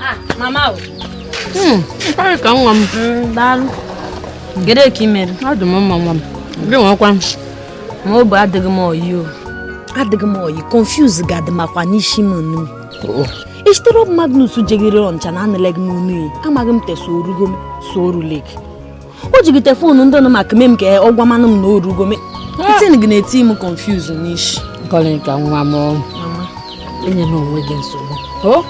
Ah, mama o. Hmm, Nkọlịka nwa m. Hmm, daalụ. Gede ka ị mere? Adị m mma nwa m. Gị nwekwa m. Ma obi adịghị m oyi o. Adịghị m oyi, confuse ga-adị makwa n'isi m nnu. Oh. Isitere Magnus jeghere Ọnịcha na anụleghị m onu amaghị m te so orugo m so oruleghị. o jigide foonu ndị nọ maka mem ka ọ gwamanụ m na orugo me itin gị na-eti m confuse n'ishi nkọlịka nwa m enyena onwe gị nsogbu o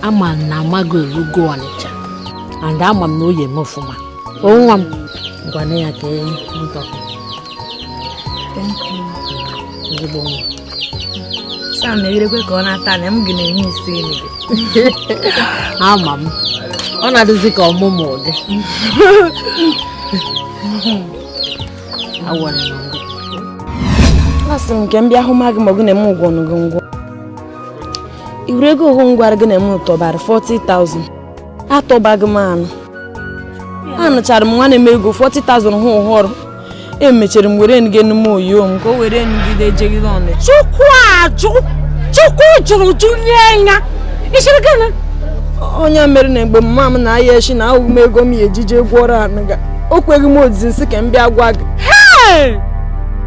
ama m na magị erugo ọnịcha and ama m na o yi eme ọfụma o nwa m gwana ya ka e ntọkọ ezigbo nwa sam na-erekwe ka ọ na-ata na m gị na-enye isi enyi gị ama m ọ na-adịzi ka ọmụmụ ụdị asị m nke m bịa hụ ma gị ma gị na-eme ụgwọ ọnụ gị ngwọ iwere ego ọhụ m gwara gị na m tọbara 40,000 atọbaghị m anụ anụchara m nwanne m ego 40,000 hụ ụhọrọ emechara m were nge n'ime oyo m ka o were ngide ejegide ọnụ chukwu ajụ chukwu jụrụ jụ nye ya isiri gịnị onye mere na mgbe mma m na anyashị na ahụghị m ego m ya ejije gwọrọ anụ ga o kweghị m ozizi m sị ka m bịa gwa gị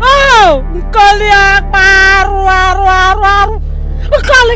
oh! nkọli akpa arụ arụ arụ arụ nkọli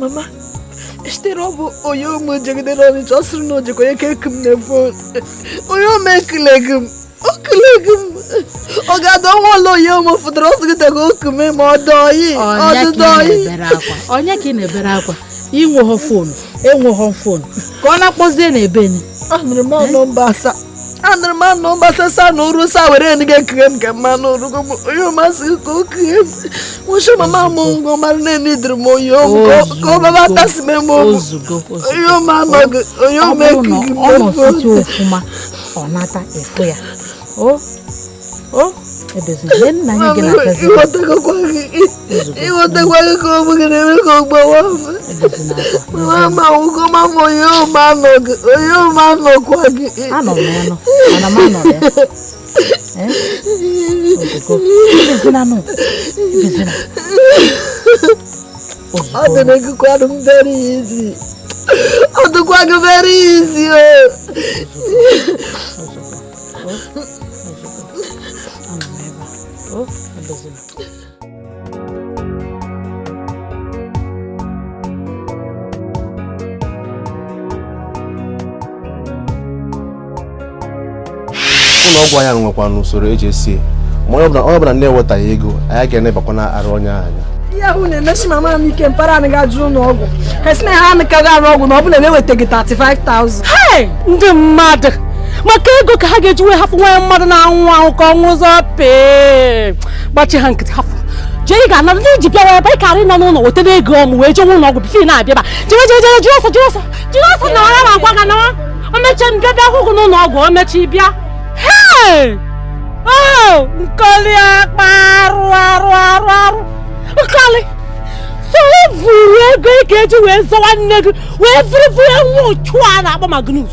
mama sitere ọ bụ onye ụmụ jegidere ọnịcha ọ sịrị na o jekwa eku m na fon onye ụmụ ekulegi m okulegi m ọ ga-adọ nwa ụlọ onye ụmụ fụtara ọ sịgịtago oku m ma ọ dọọ yi ọdụdọ yi onye ka ị na-ebere akwa inweghọ fon enweghọ fon ka ọ na-akpọzie na ebe ni anụrụ m nọmba asaa anụrụ m anụ gbasasa na oru sa were nị ga-ekughe m ka mmanụ orugo m onye masị ka o kughe m nwụchi mama m ngọ mara na-eni dịrị m onye omu ka ọ baba tasị m eme omu onye omu anọghị onye omu ekughi m ọ nọsite ofuma ọ nata efu ya ịghọtakwaghị ka ọ bụghị na-eme ka ogbawa mama ụkọ mama onye ụma anọkwa gị ọ dị na ekukwanụ m bere ya isi ọ dịkwa gị bere ya isi o ụlọ ọgwụ anyị nwekwanụ usoro eji esi ma onye ọbụla na-ewetaghị ego anyị ga-enebakwanara onye anya ihe ahụ na-emesi mama m ike mpara anyị ga jụrụ ụlọ ọgwụ ha sị na ha anụkaghị arụ ọgwụ na ọ bụrụ na ewetaghị 35,000 ndị mmadụ maka ego ka ha ga-eji wee hapụ nwaanyị mmadụ na-anwụ anwụ ka ọnwụ ụzọ pee gbachi ha nkịtị hapụ jee ị ga-ana ndị ji bịara ebe ị karị nọ n'ụlọ wetara ego ọmụ wee jee ụlọ ọgwụ before m na-abịaba jere jere jere jiri ọsọ jiri ọsọ jiri ọsọ na ọra ma gwa gị na omeche m bịa bịa hụ gị n'ụlọ ọgwụ omechi bịa hee o nkọli akpa arụ arụ arụ arụ nkọli so vuru ego ị ga-eji wee zọwa nne gị wee vuru vunye nwa uchu a na-akpọ magnus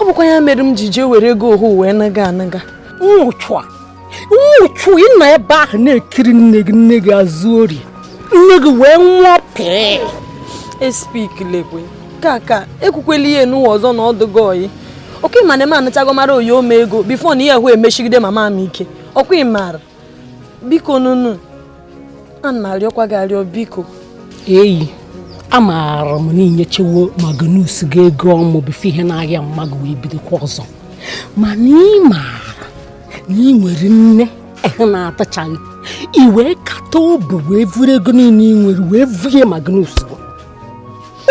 ọ bụkwa ya mere m ji jee were ego ohu wee nuga nuga nwa uchu a nwa uchu ị nọ ebe ahụ na-ekiri nne gị nne gị azụ ori nne gị wee nwụọ pịị espik lekwe kaka ekwukwela ihe nụwa ọzọ na ọ dụgo oyi ọkwa ị ma na m anachago mara oyi ome ego before na ihe ahụ emeshigide mama m ike ọkwa ị mara biko nunu ana m arịọkwa gị arịọ biko eyi amaara m na i nyechewo magnus gị ego ọmụ before ihe na-arịa mama gị wee bidokwa ọzọ mana ị maara na ị nwere nne ehụ na-adịchaghị i wee kata obu wee vuru ego niile ị nwere wee vunye magnus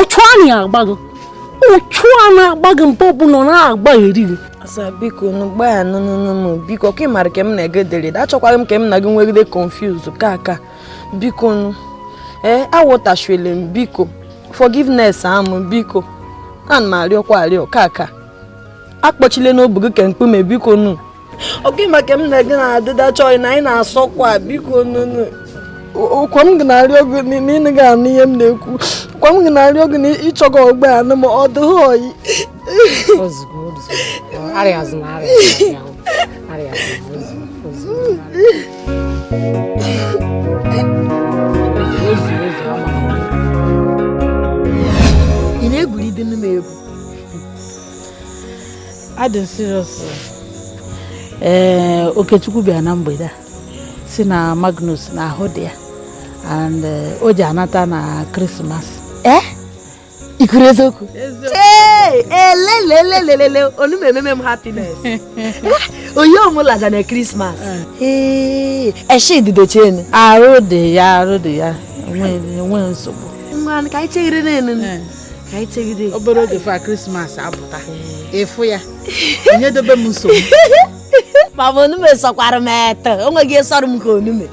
uchu na-agba gị uchu na-agba gị mgbe ọbụla na-agba eri gị asa biko nu gbaya nụnụnụ biko ka ị mara ka m na-ege dere achọkwaghị m ka m na gị nwegide confuse kaka biko nu ee eh, awụtachiele m biko forgiveness amụ biko ana m arịọkwa arịọ kaka akpọchile obu gị ka mkpume biko nu oke maka m na gị na-adịda chọị na anyị na-asọkwa biko nunu ọkwa m ga na-arịọ gị na ị nụghị anụ ihe m na-ekwu ọkwa m ga na-arịọ gị na ị chọghị ọgba anụ ma ọ dịghị oyi ị na-egwuri dị n'ime egwu adị serious ee eh, okechukwu bịara na mgbede a sị na magnus na ahụ dị ya and eh, o ji anata na christmas ee eh? i kwuru eziokwu elelelelele onu m ememe m happiness onye omụlaja na christmas ee eshididochenu arụ dị ya arụ dị ya enweghị nsogbu nwa ka anyị chere na ka anyị chegide obere oge fa krismas apụta ịfụ ya onye dobe m nsogbu mama onume sọkwara m eto o nweghị ịsọrọ m ka onume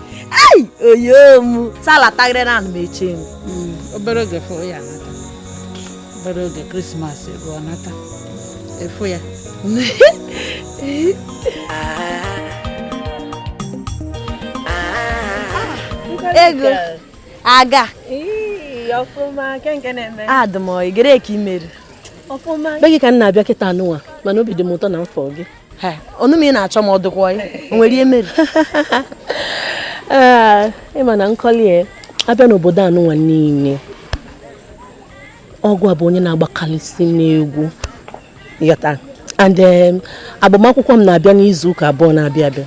ei oyo m salatagịrị na anụ m eche m obere oge fụ ya nata obere oge krismas ruo nata ịfụ ya ego aga adị m ọyị gere ka i mere be gị ka m na-abịa kịta anụnwa mana obi dị m ụtọ na m fụ gị ọnụ m ị na-achọ m ọ dụkwa ya nwere ihe mere ị ma na nkọli a bịa n'obodo anụnwa niile ọ gịwa bụ onye na-agbakarịsị n'egwu yọta and agbamakwụkwọ m na-abịa n'izu ụka abụọ na-abịa abịa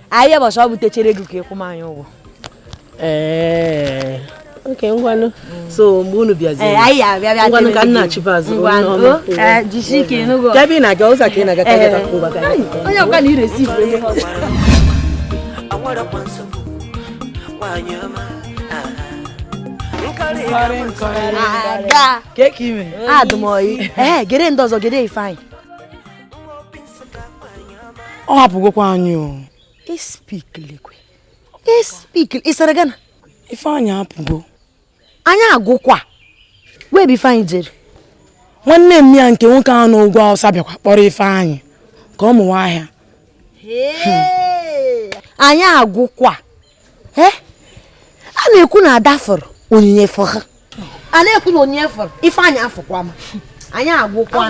anyị bọsọ ọ butechere ego ka ị kwụ m anyị ụgwọ ee okay ngwanụ so mgbe unu bịaziri ngwanụ ka nna achịba azụ ebe ị na-aga ụzọ ka ị na-aga onye ọkwa na iresi aga ka ị mere adụ m ọyị ee gere ndị ọzọ gere ifeanyị ọ hapụgokwa anyị o ispiklikwe ispikli ị sịrị gịnị ifeanyị hapụgo anyị agwụkwa wee ebe ifeanyị jere nwanne m ya nke nwoke ahụ n'ugwu awụsa bịakwa kpọrọ ifeanyị ka ọ mụwa ahịa anyị agwụkwa ee eh? a na-ekwu na ada fụrụ onyinye fụ ha a na-ekwu na onyinye fụrụ ifeanyị afụkwa m anyị agwụkwa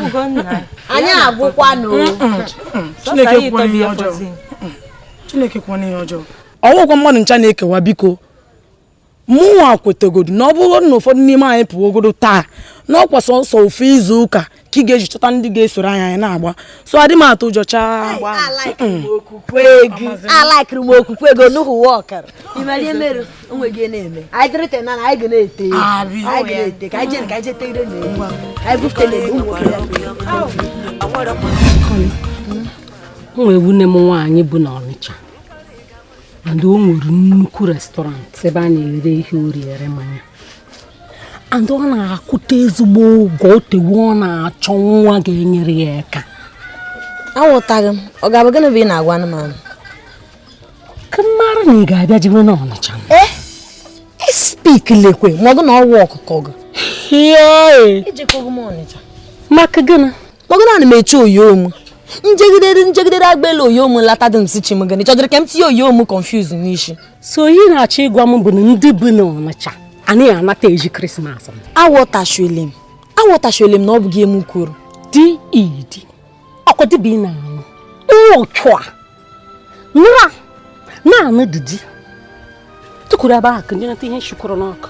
anyị agwụkwa na Chineke kwuo ihe ọjọọ Chineke kwuo ihe ọjọọ ọ wụkwa mmadụ ncha na-ekewa biko mụnwa kwetagodu na ọ bụrụ na ụfọdụ n'ime anyị pụgodu taa na ọkwa sọsọ ofu izu ụka ka ị ga-eji chọta ndị ga-esoro anyị anyị na-agba so adị m atụ ụjọ chaa alaikiri m okwukwe gị nuhu wọkara imerie mere onwe gị na-eme anyị dịrịte na anyị ga na-ete anyị ga na-ete ka anyị jere ka anyị jete ire na egwu anyị bufute na egwu nwoke ya nwee nwanne m nwaanyị bu na ọnịcha and o nwere nnukwu restaurant ebe a na-ere ihe oriri ere mmanya and ọ na-akwụta ezigbo ụgwọ o tewo ọ na-achọ nwa ga-enyere ya aka aghọtaghị m ọ ga-abụ gịnị bụ ị na-agwa anụmanụ ka mmadụ na ị ga-abịa jewe na ọnịcha eh? e spik lekwe ma ọ bụ na ọwa ọkụkọ gị ejekọghị m ọnịcha maka gịnị kpọgara ana m eche oyi mụ njegidere njegidere agbela oyi mụ lata dị m si chi m gịnị chọdịrị ka m tinye oyi mụ confuse n'isi so ihe ị na-achọ ịgwa m bụ na ndị bu na ọnịcha anaghị anata eri krismas aghọtachuele m aghọtachuele m na ọ bụghị mụ kwuru di idi ọkwa dịbụ ị na-anụ nwa ụchụ a nra na-anụ didi tukwuru ebe ahụ ka ndị nata ihe nshikọrọ n'ọkụ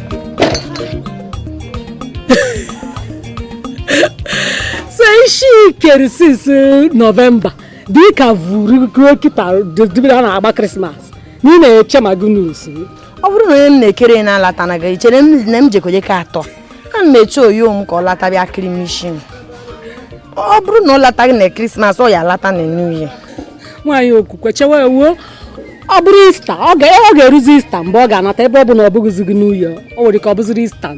so isi i kere since novemba dịka vuru ruo kịta dịbịa a na-agba krismas na ị na-eche ma gị n'usu ọ bụrụ na onye m na-ekere ya na-alata na gị chere m na m jekoje ka atọ ana m eche oyi m ka ọ lata bịa kiri m isi m ọ bụrụ na ọ lataghị na krismas ọ ya alata na new year nwaanyị okwukwe chewe wuo ọ bụrụ ista ọ ga-eruzi ista mgbe ọ ga-anata ebe ọ bụ na ọ bụghịzi new year o nwere ka ọ bụziri ista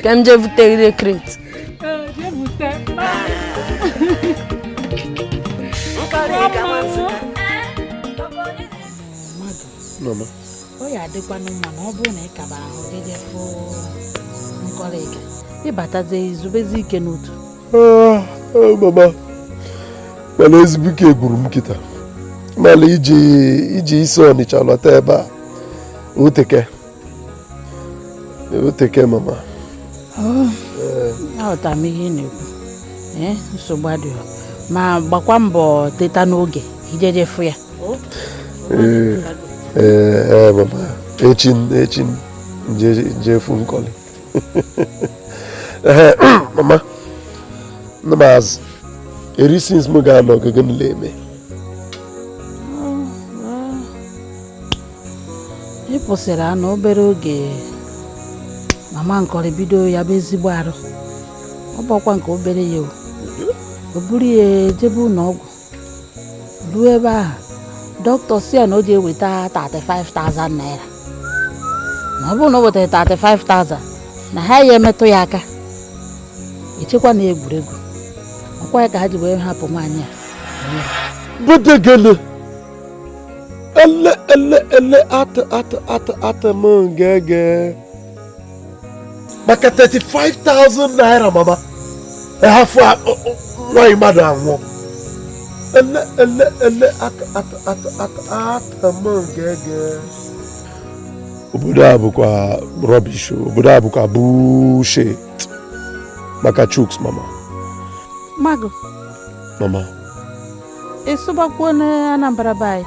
ka m jee bute gị direct ọ ya adịkwanụ mma na ọ bụrụ na ị kabara ahụ gị jee fụ nkọrị ka ị batazie i zubezie ike n'otu ah, ah, mama mana ezigbo ike gwụrụ m kịta mana iji iji isi ọnịcha lọta ebe a o teka o teka mama oh, aghọtara m ihe ị na-ekwu eh, nsogbu adịghị ma gbakwa mbọ teta n'oge i jee jee fụ ya ee eh, eh, mama echi echi m jee fụ nkọlị ee mama nne m azụ eri since m ga-anọ ogige nile eme ị pụsịrị anụ obere oge mama nkọrị bido ya bụ ezigbo arụ ọ bụkwa nke obere ya o o buru ya jebe ụlọ ọgwụ ruo ebe ahụ dọkịta sị ya na o jee weta 35,000 naira na ọ bụrụ na o wetara 35,000 na ha ya emetụ ya aka e chekwa na egwuregwu ọkwa ya ka ha ji wee hapụ nwaanyị a Budegele. Ele ele ele atụ atụ atụ atụ m ngege. maka 35,000 naira mama a hafụ nwaanyị mmadụ anwụọ ele ele ele atụ m ngege obodo a bụkwa rubbish obodo a bụkwa bullshit maka chukwu mama mago mama ịsụbakwuo na anambra be anyị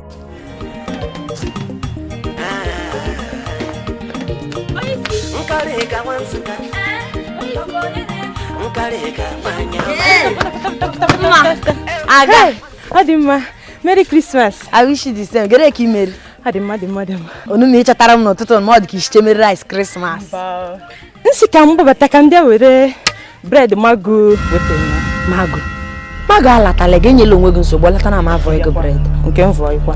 aga ọ dị mma merry christmas i wish you the same gere ka i mere ọ dị mma dị mma dị mma onu m ị chọtara m n'ụtụtụ ma ọ dị ka i sichere m rice christmas nsị ka m gbabata ka m bịa were bread mago wetara mago mago alatalaghị enyela onwe gị nsogbu ọ lata na m avọ ego bread nke m vọọ ịkwa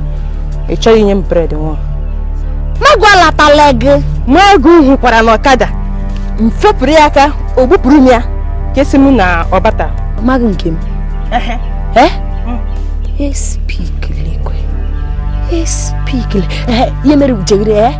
ị chọghị inye m bread nwa mago alatalaghị mago hụkwara n'ọkada m fepụrụ ya aka o gbupụrụ m aka asị m na ọ bata mago nke m espikile kwe espikile ihe mere ujeghere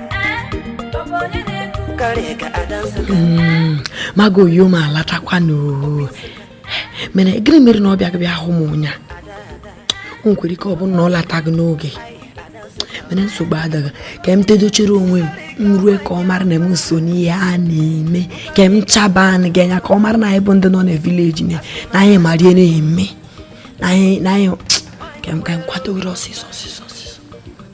Mm, mago oyi m alatakwa n'oo mere gịnị mere na ọ bịaghị bịa hụ m ụnya o nwekwere ike ọ bụrụ na ọ lataghị n'oge mana nsogbu adịghị ka m tedochere onwe m m rue ka ọ mara na m so n'ihe a na-eme ka m chaba anụ gị anya ka ọ mara na anyị bụ ndị nọ na village na anyị mara ihe na-eme na anyị ka m ka m kwadogoro ọsịsọ ọsịsọ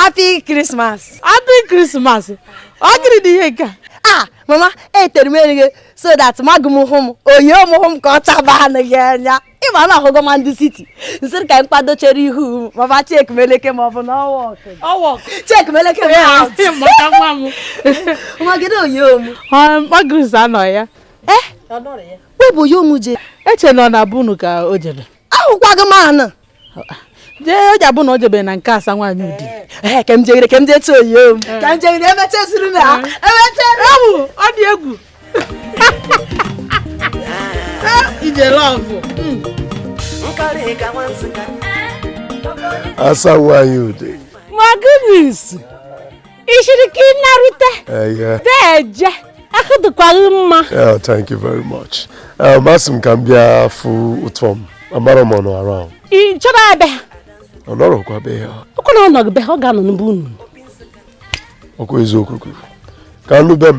happy christmas happy christmas ọ gịrị dị ihe nke a ah mama etere m uri gị so that mago m hụ m oyi m hụ m ka ọ chaba anụ gị anya ị ma na ahụgo ma ndị city nsịrị ka m kwadochere ihu m mama check meleke ma ọ bụ na ọwa check meleke nwa gị na oyi omu magris anọ ya eh webụ oyi omu je eche nọ na be unu ka o jere ahụkwaghị m anụ jee o ji abụ na o jebere na nke asa nwaanyị udi ee ka m jegide ka m jee tụọ oyi m ka m jegide emecha esiri na ha emecha ewu ọ dị egwu ije love asa nwaanyị udi ma gịnị isi i shiri ike narute deje ahụ dịkwa gị mma thank you very much masị um, m ka m bịa fụ ụtọ m amara m onye ahụ ị chọrọ abịa ọ nọrọkwa be ya ọkụ na ọ nọgị be ha ọ ga-anọ n'ebe unu ọkụ eziokwu ka a nọ be m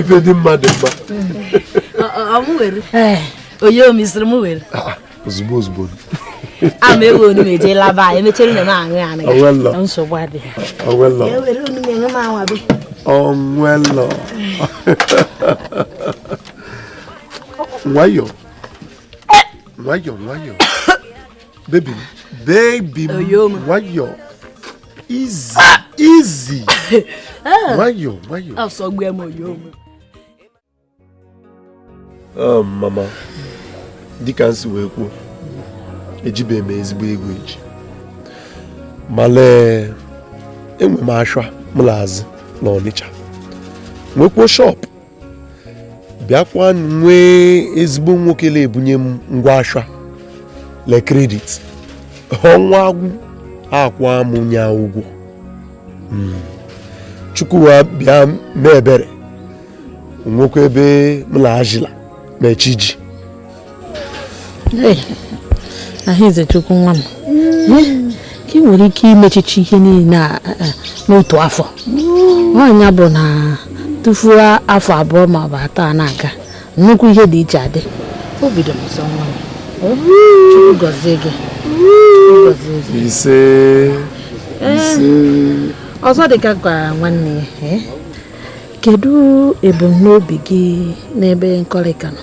ife dị mma dị mma onye omisiri m were ah, ah, ozugbo ozugbo ama ewe onu meje laba anyị emechere na na-aṅụ ya anaghị nsogbu adịghị onwelọ nwayọọ nwayọọ nwayọọ bebi m bebi m nwayọọ easy easy nwayọọ nwayọọ asọgbu m oyo m ah, mama dịka m si wee kwuo ejibeghị m ezigbo ego eji ma lee enwe m ashwa m na-azụ na Ọnịcha nwekwuo shop bịakwa nwee ezigbo nwoke na-ebunye m ngwa ashwa le credit ọnwa agwụ akwụa m nya ụgwọ hmm. Chukwu abịa mee ebere nwekwa ebe m na ajila mechi ji Ah Izuchukwu nwa m hmm. ka ị nwere ike imechicha ihe niile n'otu afọ nya bụ na tupu afọ abụọ ma ọ bụ atọ a na-aga nnukwu ihe dị iche adị o bido ọzọ nwa m Chukwu gọzie gị ise ise ọzọ dịkwa ka nwanne ya kedu ebumnobi gị n'ebe Nkọlịka nọ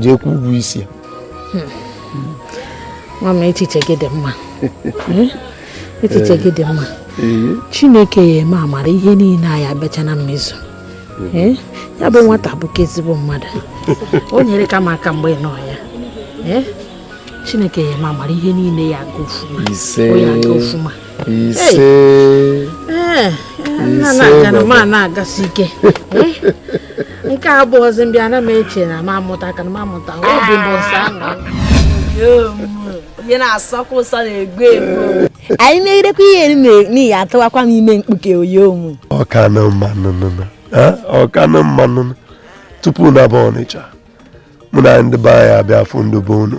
jee kwụ ụgwọ isi ya nwa m echiche gị dị mma eh? echiche gị dị mma eh? chineke ya eme amara ihe niile ya abịacha na mmezu eh? ya bụ nwata bụkwa ezigbo mmadụ o nyereka m aka mgbe ị na-anọ ya chineke ya eme amara ihe niile ya aga ọfụma ise eh, na-agasi ike eh, nke a bụ ọzọ mbịa ana m eche na ma amụta ka na ma amụta obi bụ nsọ ihe na-asọkwa ụsọ na-egbu egbu anyị na-erekwa ihe n'ihi atụwakwa m ime mkpuke oyo m ọ kanụ mma nụ eh, ọ kanụ mma nụ tupu m naba Ọnịcha mụ na ndị be anyị abịa fụ ndị be unu